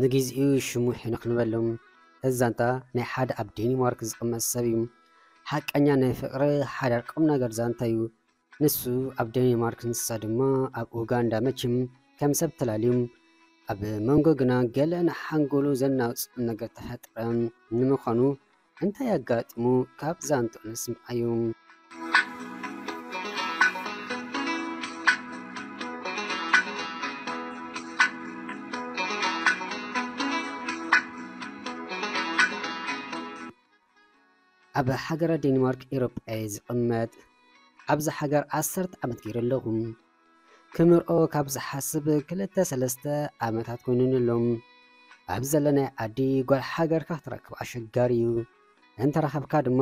ንጊዚኡ ሽሙ ሄኖክ ንበሎ። እዚ ዛንታ ናይ ሓደ ኣብ ዴኒማርክ ዝቕመጥ ሰብ እዩ። ሓቀኛ ናይ ፍቕሪ ሓዳር ቁምነገር ዛንታ እዩ። ንሱ ኣብ ደኒማርክ ንሳ ድማ ኣብ ኡጋንዳ መችም ከም ሰብ ተላልዩም ኣብ መንጎ ግና ገለ ንሓንጎሉ ዘናውጽ ነገር ተፈጥረ ንምዃኑ እንታይ ኣጋጢሙ ካብ ዛንትኡ ንስምዓዩ። ኣብ ሃገረ ዴንማርክ ኢሮጳ እየ ዝቅመጥ ኣብዛ ሃገር ዓሰርተ ዓመት ገይረ ኣለኹ ክምርዖ ካብ ዝሓስብ ክልተ ሰለስተ ዓመታት ኮይኑኒ ኣሎ ኣብ ዘለናይ ዓዲ ጓል ሃገርካ ክትረክብ ኣሸጋሪ እዩ እንተረኸብካ ድማ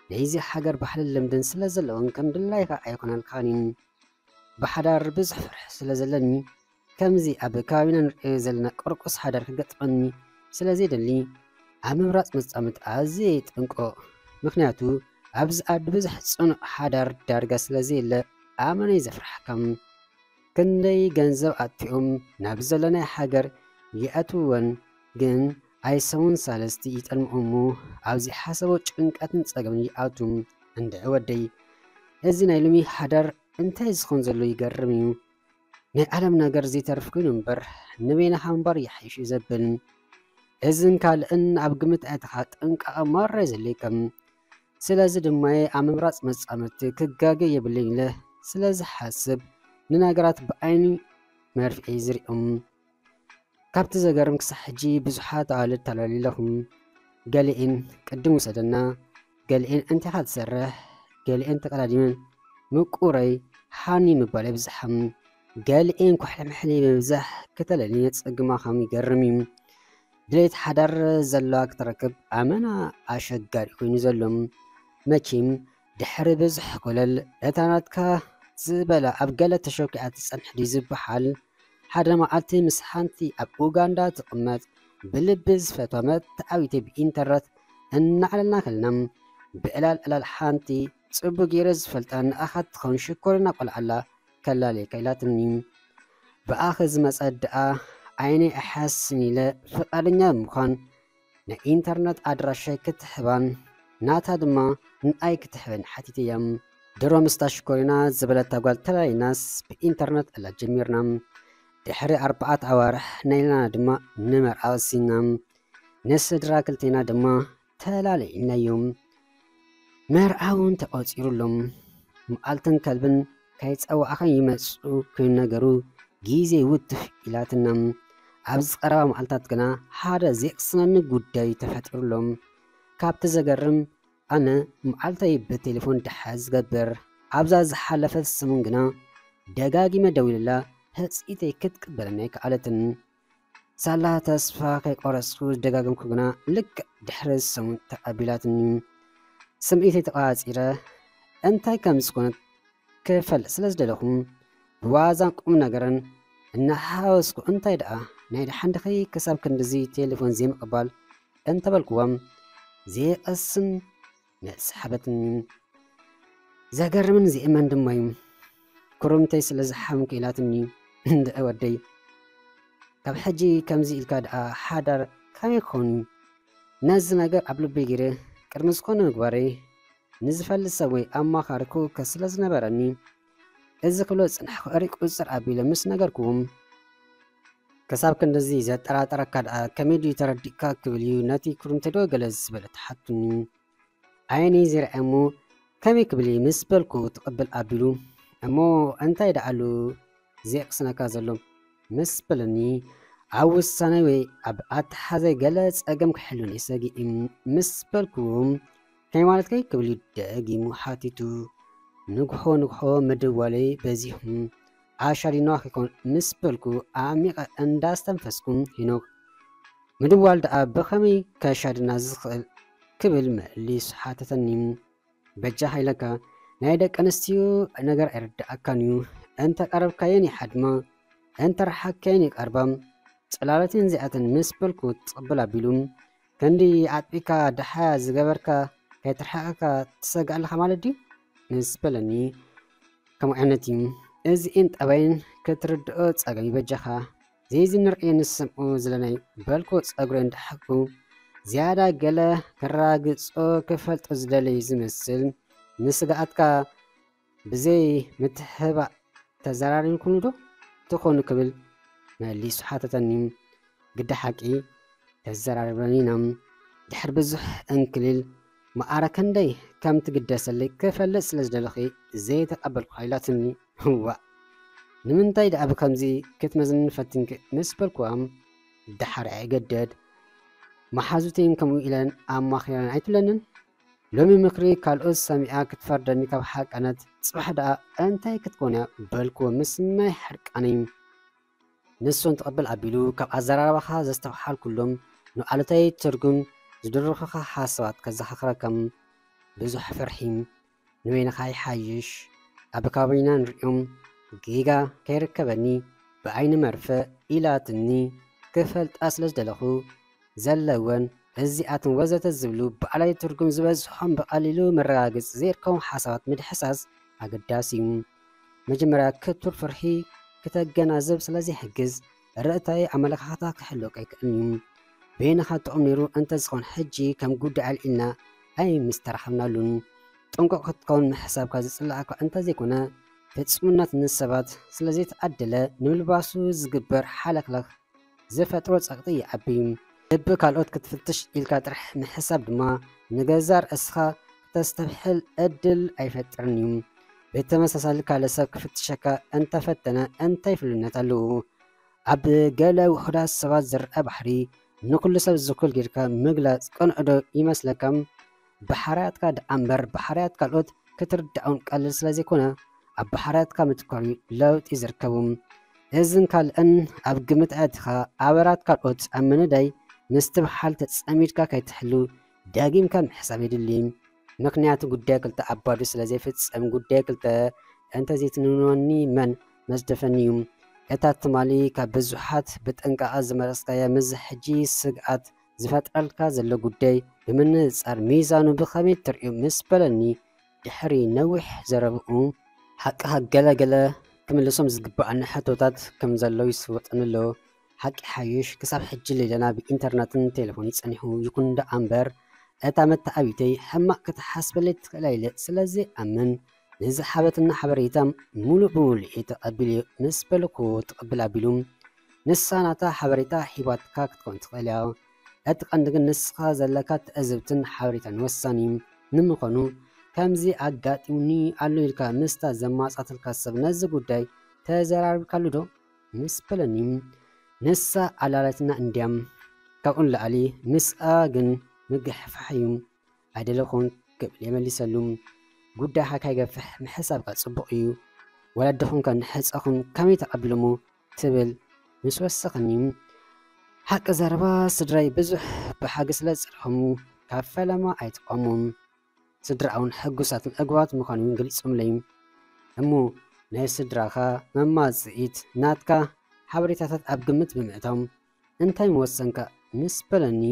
ናይዚ ሃገር ባህልን ልምድን ስለ ዘለዎን ከም ድላይካ ኣይኮነልካን እዩ ብሓዳር ብዙሕ ፍርሒ ስለ ዘለኒ ከምዚ ኣብ ከባቢና ንርእዮ ዘለና ቁርቁስ ሓዳር ክገጥመኒ ስለ ዘይደሊ ኣብ ምምራጽ መጻምድቲ ኣዝየ ይጥንቆቕ። ምኽንያቱ ኣብዚ ዓዲ ብዙሕ ጽኑዕ ሓዳር ዳርጋ ስለ ዘየለ ኣመነይ ዘፍርሓካ። ክንደይ ገንዘብ ኣጥፊኦም ናብ ዘለናዮ ሃገር ይኣትውወን ግን ኣይ ሰሙን ሳልስቲ ይጠልምኦ እሞ ኣብ ዘይሓሰቦ ጭንቀትን ጸገምን ይኣትው። እንድዒ ወደይ እዚ ናይ ሎሚ ሓዳር እንታይ ዝኸውን ዘሎ ይገርም'ዩ። ናይ ዓለም ነገር ዘይተርፍ ኮይኑ እምበር ንበይንኻ ምንባር ይሓይሽ'ዩ ዘብል። እዝን ካልእን ኣብ ግምት ኣእትኻ ጥንቃቐ ማራ የዘልየካ። ስለዚ ድማ'የ ኣብ ምምራጽ መጻምድቲ ክጋገ የብለይን ኢለ ስለ ዝሓስብ ንነገራት ብዓይኒ መርፍኤ ዝሪኦም። ካብቲ ዘገርም ክሳዕ ሕጂ ብዙሓት ኣዋልድ ተለሊለኹም ገሊኤን ቅድም ውሰደና ገሊኤን እንቲኻ ትሰርሕ ገሊኤን ተቀዳዲመን ምቁረይ ሃኒ ምባል የብዝሓም ገሊኤን ኩሕልምሕሊ ብምብዛሕ ክተለሊ የጸግማኻም ይገርምዩ ድሌት ሓዳር ዘለዋ ክትረክብ ኣመና ኣሸጋሪ ኮይኑ ዘሎ መኪም ድሕሪ ብዙሕ ኮለል እታ ናትካ ዝበላ ኣብ ገለ ተሸኪዓ ትጸንሕ ድዩ ዝበሃል ሓደ መዓልቲ ምስ ሓንቲ ኣብ ኡጋንዳ ትቕመጥ ብልቢ ዝፈትዋ መርትዓዊተይ ብኢንተርነት እናዕለልና ከለና፣ ብዕላል ዕላል ሓንቲ ጽቡቕ ገይረ ዝፈልጣ ንኣኻ ትኸውን ሽኮሪና ቆልዓ ኣላ ከላልየካ ኢላትኒ። ብኣኺ ዝመጸ ደኣ ዓይነይ ኣይሓስን ኢለ ፍቓደኛ ብምዃን፣ ናይ ኢንተርነት ኣድራሻይ ክትሕባን ናታ ድማ ንኣይ ክትሕበኒ ሓቲተያ። ድሮ ምስታ ሽኮሪና ዝበለታ ጓል ተላሊናስ ብኢንተርነት እላ ጀሚርና። ድሕሪ ኣርባዓት ኣዋርሕ ናይላና ድማ ንመርዓ ወሲንና። ንስድራ ክልቴና ድማ ተላሊናዮም። መርዓ እውን ተቖጺሩሎም መዓልትን ከልብን ከይጸዋዕኽን ይመጽኡ ክይነገሩ ግዜ ውትፍ ኢላትና። ኣብዚ ቀረባ መዓልታት ግና ሓደ ዜቕስነኒ ጉዳይ ተፈጢሩሎም። ካብቲ ዘገርም ኣነ መዓልተይ ብቴሌፎን ድሕሪ ዝገብር ኣብዛ ዝሓለፈት ሰሙን ግና ደጋጊመ ደዊለላ ህጽኢተይ ክትቅበለኒ ኣይከኣለትን። ሳላ ተስፋ ከይቆረጽኩ ዝደጋገምኩ ግና ልክዕ ድሕሪ ሰሙን ተቐቢላትኒ። ስምዒተይ ተቛጺረ እንታይ ከም ዝኾነት ክፈልጥ ስለ ዝደለኹ ብዋዛን ቁምነገርን እናሓወስኩ እንታይ ደኣ ናይ ደሓን ድኺ ክሳብ ክንድዚ ቴለፎን ዘይምቕባል እንተበልኩዎም ዘይቐስን መሳሓበትን ዘገርምን ዜእመን ድማ ዩ ኩርምተይ ስለ ዝሓምኩ ኢላትኒ እንድዒ ወደይ ካብ ሕጂ ከምዚ ኢልካ ድኣ ሓዳር ከመይ ክኮን ዩ ነዚ ነገር ኣብ ልበይ ጌረ ቅድሚ ዝኮነ ምግባረይ ንዝፈልጥ ሰብ ወይ ኣማካሪ ክውከስ ስለ ዝነበረኒ እዚ ክብሎ ዝጸናሕኩ ሕርይ ቁጽጽር ኣቢለ ምስ ነገርኩም፣ ክሳብ ክንድዚ ዘጠራጥረካ ደኣ ከመይ ድዩ ተረዲእካ ክብል እዩ ነቲ ኩርምትዶ ገለ ዝበለ ተሓቱኒ። ዓይነይ ዘይርኣየ እሞ ከመይ ክብል እየ ምስ በልኩ ትቕብል ኣቢሉ እሞ እንታይ ደኣ ኣሉ ዘየቕስነካ ዘሎ ምስ በለኒ ኣብ ውሳነይ ወይ ኣብ ኣተሓሕዛይ ገለ ጸገም ክሕሉኒ ሰጊእ ምስ በልኩ ሃይማኖትከይ ክብል ደጊሙ ሓቲቱ። ንግሆ ንግሆ ምድዋለይ በዚሑ። ዓሻ ዲንዋክ ይኮን ምስ በልኩ ኣዕሚቐ እንዳ ኣስተንፈስኩ ሄኖክ ምድዋል ደኣ ብኸመይ ከሻድና ዝኽእል ክብል መሊሱ ሓተተኒ። በጃኻ ኢለካ ናይ ደቂ ኣንስትዮ ነገር ኣይርድኣካን እዩ እንተ ቀረብካየን ይሓድማ እንተ ረሓቅካየን ይቀርባ ጽላለተን እዚኣተን ምስ በልኩ ትቕብል ኣቢሉ ክንዲ ኣጥቢካ ድሓያ ዝገበርካ ከይትርሕቀካ ትሰግእ ኣለካ ማለት ድዩ ምስ በለኒ ከምኡ ዓይነት እዩ እዚእን ጠባይን ክትርድኦ ጸገም በጃኻ ዘይዚ ንርእዮ ንሰምዑ ዝለናይ በልኩ ጸጉረ እንዳሓኩ ዝያዳ ገለ ከራግጾ ክፈልጦ ዝደለዩ ዝመስል ንስግኣትካ ብዘይ ምትሕባእ ተዘራሪብኩምዶ ትኾኑ ክብል መሊሱ ሓተተኒ። ግደ ሓቂ ተዘራሪብናን ኢና። ድሕሪ ብዙሕ ዕንክሊል መኣረ ከንደይ ከም ትግደሰለይ ክፈልጥ ስለ ዝደለኹ ዘይተቐበልኩኻ ኢላትኒ። እዋእ ንምንታይ ደኣ ብከምዚ ክትመዝኒ ፈቲንኪ ምስ በልኩዋ ደሓር ኣይእገደድ መሓዙተይን ከምኡ ኢለን ኣማኺረን ኣይትብለንን። ሎሚ ምክሪ ካልኦት ሰሚዓ ክትፈርደኒ ካብ ሓቀነት ጽባሕ ደኣ እንታይ ክትኮን'ያ በልክዎ ምስ ማይ ሕርቃነይ ንሱን ትቕብል ኣቢሉ ካብ ኣዘራርባኻ ዘስተውሓልኩሎም ንኣሉታዊ ትርጉም ዝድርኹኻ ሓሳባት ከዘኻኽረካ ብዙሕ ፍርሒ ንበይንኻ ይሓይሽ ኣብ ከባቢና ንሪኦም ጌጋ ከይርከበኒ ብዓይኒ መርፍእ ኢላትኒ ክፈልጣ ስለ ዝደለኹ ዘለወን፣ እዚኣተን ወዘተ ዝብሉ ባዕላዊ ትርጉም ዝበዝሖም ብቐሊሉ መረጋገጺ ዘይርከቦም ሓሳባት ምድሕሳስ ኣገዳሲ እዩ። መጀመርያ ክቱር ፍርሒ ክተገናዝብ ስለ ዘይሕግዝ ርእታዊ ኣመለኻኽታ ክህልወካ ኣይክእልን እዩ። በይንኻ ጥዑም ነይሩ እንተዝኾን ሕጂ ከም ጉዳይ ኣልዒልና ኣይምስተራኸብናሉን። ጥንቁቕ ክትከውን ምሕሳብካ ዝጽልኣካ እንተዘይኮነ ፍጹምነት ንሰባት ስለ ዘይተዓደለ ንምልባሱ ዝግበር ሓለኽለኽ፣ ዝፈጥሮ ጸቕጢ ይዓቢ። ልቢ ካልኦት ክትፍትሽ ኢልካ ጥራሕ ምሕሳብ ድማ ንገዛእ ርእስኻ ክተስተብሕል ዕድል ኣይፈጥርን እዩ። ብተመሳሳሊ ካልእ ሰብ ክፍትሸካ እንተ ፈተነ እንታይ ፍሉይነት ኣለዎ? ኣብ ገለ ውሑዳት ሰባት ዝርኣ ባህሪ ንኹሉ ሰብ ዝኩል ጌርካ ምግላጽ ቅኑዕዶ ይመስለካ? ብሓርያትካ ደኣ እምበር ብሓርያት ካልኦት ክትርዳኦም ቀልል ስለዘይኮነ ኣብ ብሓርያትካ ምትኳር'ዩ ለውጢ ዝርከቡ። እዝን ካልእን ኣብ ግምት ኣእቲኻ ኣበራት ካልኦት ኣብ ምንዳይ ምስትብሓል ተጸሚድካ ከይትሕሉ ደጊምካ ምሕሳብ የድሊ። ምኽንያቱ ጉዳይ ክልተ ኣብ ባዶ ስለዘይፍጸም ጉዳይ ክልተ እንተዘይትንንወኒ መን መዝደፈኒ'ዩ። እታ ትማሊ ካብ ብዙሓት ብጥንቃቐ ዝመረጽካያ ምስዚ ሕጂ ስግኣት ዝፈጥረልካ ዘሎ ጉዳይ ብምንጽጻር ሚዛኑ ብኸመይ ትርእዮ ምስ በለኒ ድሕሪ ነዊሕ ዘረብኡ፣ ሓቅኻ ገለ ገለ ክምልሶም ዝግብኣኒ ሕቶታት ከም ዘሎ ይስወጠኒ ኣሎ፣ ሓቂ ይሓይሽ ክሳብ ሕጂ ሌላና ብኢንተርነትን ቴለፎንን ጸኒሑ፣ ይኹን ደኣምበር እታ መተዓብይተይ ሕማቕ ክትሓስበለይ ትኽእል ኣይለ ስለዘይኣምን፣ ንዝሃበትና ሓበሬታ ሙሉእ ብሙሉእ እየ ተቀቢለ ምስ በልኩ ትቅብል ኣቢሉ ንሳ ናታ ሓበሬታ ሂባትካ ክትከውን ትክእል እያ እቲ ቀንዲ ግን ንስካ ዘለካ ትዕዝብትን ሓበሬታን ወሳኒ እዩ። ንምኮኑ ከምዚ ኣጋጢሙኒ ኣሎ ኢልካ ምስታ ዘማጻትልካ ሰብ ነዚ ጉዳይ ተዘራሪብካሉ ዶ? ምስ በለኒ ንሳ ኣላልያትና እንድያ ካብኡ ንላዕሊ ምስኣ ግን ምግሕፋሕ እዩ ኣይደለ ኮንክ ክብል የመሊሰሉ። ጉዳይካ ከይገፍሕ ምሕሳብካ ጽቡቕ እዩ። ወለድኹም ከ ንሕጸኹም ከመይ ተቐቢሎሞ ትብል ምስ ወሰኸኒ፣ ሓቂ ዘረባ ስድራይ ብዙሕ ብሓጊ ስለ ዝጸልኦሙ ካብ ፈለማ ኣይጠፍኦሞ። ስድራኣውን ሕጉሳትን ዕጉባት ምዃኖም እዮም ገሊጾምለይ። እሞ ናይ ስድራኻ መማጽኢት ናትካ ሓበሬታታት ኣብ ግምት ብምእታው እንታይ ምወሰንካ ምስ በለኒ፣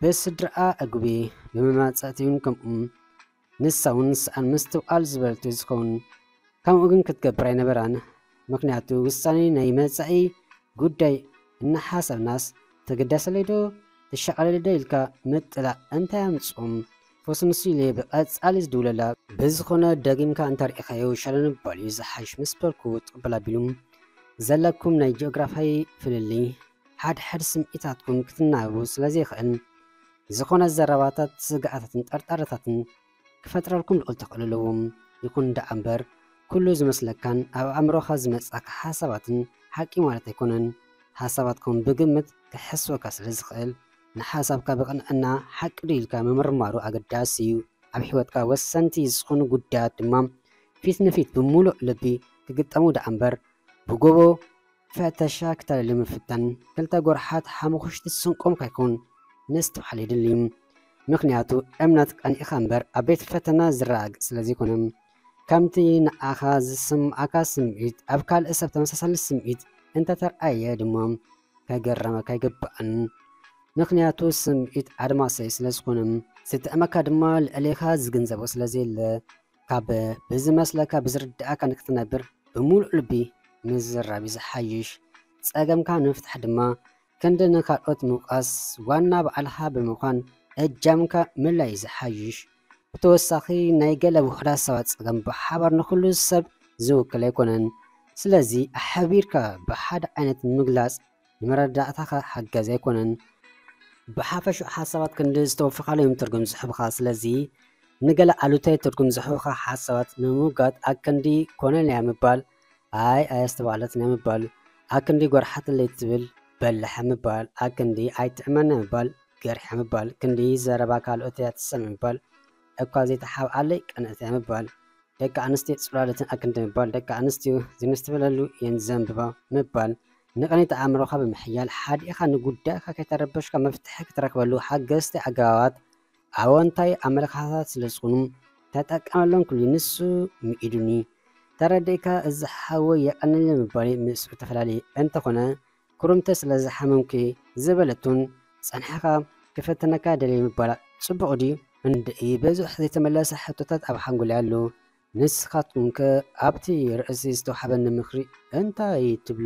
ብስድራኣ እጉብየ፣ ብመማጽእቲ'ውን ከምኡ። ንሳ'ውን ስኣን ምስትውዓል ዝበልት'ዩ ዝኸውን። ከምኡ ግን ክትገብር ኣይነበራን። ምኽንያቱ ውሳኔ ናይ መጻኢ ጉዳይ እናሓሰብናስ ተገዳሰለይ'ዶ ተሻቐለለይ'ዶ ኢልካ ምጥላዕ እንታይ ኣምጽኡ? ፖስት ንሱ ኢለ ብቀጻሊ ዝድውለላ። ብዝኾነ ደጊምካ እንተርኢኻዮ ሸለልምባል እዩ ዝሓሽ ምስ በልኩ ትቕበል ኣቢሉ። ዘለኩም ናይ ጂኦግራፋይ ፍልልይ ሓድሕድ ስምዒታትኩም ክትናበቡ ስለዘይኽእል ዝኾነ ዘረባታት ስግኣታትን ጠርጣረታትን ክፈጥረልኩም ልዑል ተኽእሎ ኣለዎ። ይኹን ደኣ እምበር ኩሉ ዝመስለካን ኣብ ኣእምሮኻ ዝመጽኣካ ሓሳባትን ሓቂ ማለት ኣይኮነን። ሓሳባትኩም ብግምት ክሕስወካ ስለዝኽእል ንሓሳብካ ብቕንዕና ሓቂ ዶ ኢልካ ምምርማሩ ኣገዳሲ እዩ። ኣብ ሕይወትካ ወሰንቲ ዝኹኑ ጉዳያት ድማ ፊት ንፊት ብምሉእ ልቢ ክግጠሙ ደኣ እምበር ብጎቦ ፈተሻ ክተልሊ ምፍታን ክልተ ጎርሓት ሓሙኹሽቲ ስንቆም ካይኮን ምስትውዓል የድሊ። ምኽንያቱ እምነት ቀኒእኻ እምበር ኣብ ቤት ፈተና ዝረጋገጽ ስለ ዘይኮነ። ከምቲ ንኣኻ ዝስምዓካ ስምዒት ኣብ ካልእ ሰብ ተመሳሳሊ ስምዒት እንተ ተርኣየ ድማ፣ ከገረመካ ኣይግባእን ምክንያቱ ስምዒት ኣድማሰይ ስለ ዝኾነ ዝጥዕመካ ድማ ልዕሌኻ ዝግንዘቦ ስለ ዘየለ ካብ ብዝመስለካ ብዝርድኣካ ንክትነብር ብምሉእ ልቢ ምዝራብ እዩ ዝሓይሽ ጸገምካ ንምፍታሕ ድማ ክንዲ ንካልኦት ምውቃስ ዋና በዓልኻ ብምዃን እጃምካ ምልላይ እዩ ዝሓይሽ ብተወሳኺ ናይ ገለ ውሑዳት ሰባት ጸገም ብሓባር ንኹሉ ሰብ ዝውክል ኣይኮነን። ስለዚ ኣሕቢርካ ብሓደ ዓይነት ምግላጽ ንመረዳእታኻ ሓጋዚ ኣይኮነን። ብሓፈሽኡ ሓሳባት ክንዲ ዝተወፈኻሉ እዮም ትርጉም ዝህቡኻ። ስለዚ ንገለ ኣሉታዊ ትርጉም ዝህቡኻ ሓሳባት ንምውጋድ ኣክንዲ ኮነልያ ምባል፣ ኣይ ኣየስተባህለትንያ ምባል፣ ኣክንዲ ጎርሓትለይ ትብል በላሕ ምባል፣ ኣክንዲ ኣይትዕመና ምባል፣ ገርሕያ ምባል ክንዲ ዘረባ ካልኦት እያ ትሰምዕ ምባል እኳ ዘይተሓብኣለይ ቀንእት እያ ምባል ደቂ ኣንስትዮ ጽላሎተን ኣክንዲ ምባል ደቂ ኣንስትዮ ዝምስትብለሉ እየን ዘንብባ ምባል ንቕኒት ኣእምሮኻ ብምሕያል ሓዲእኻ ንጉዳይካ ከይተረበሽካ መፍትሒ ክትረክበሉ ሓገዝቲ ኣገባባት ኣወንታዊ ኣመለካኸታት ስለ ዝኾኑ ተጠቀመሎም ክሉ ንሱ ምኢዱኒ ተረዲእካ እዚ ሓወይ የቐንል ምባለይ ምስኡ ተፈላለየ እንተኾነ ኩርምተ ስለ ዝሓመምኩ እየ ዝበለቱን ጸንሕኻ ክፈትነካ ደልየ ምባላ ጽቡቕ ድዩ? እንድዒ ብዙሕ ዘይተመለሰ ሕቶታት ኣብ ሓንጎለይ ኣሎ። ንስኻትኩም ከ ኣብቲ ርእሲ ዝተውሓበኒ ምኽሪ እንታይ ትብሉ?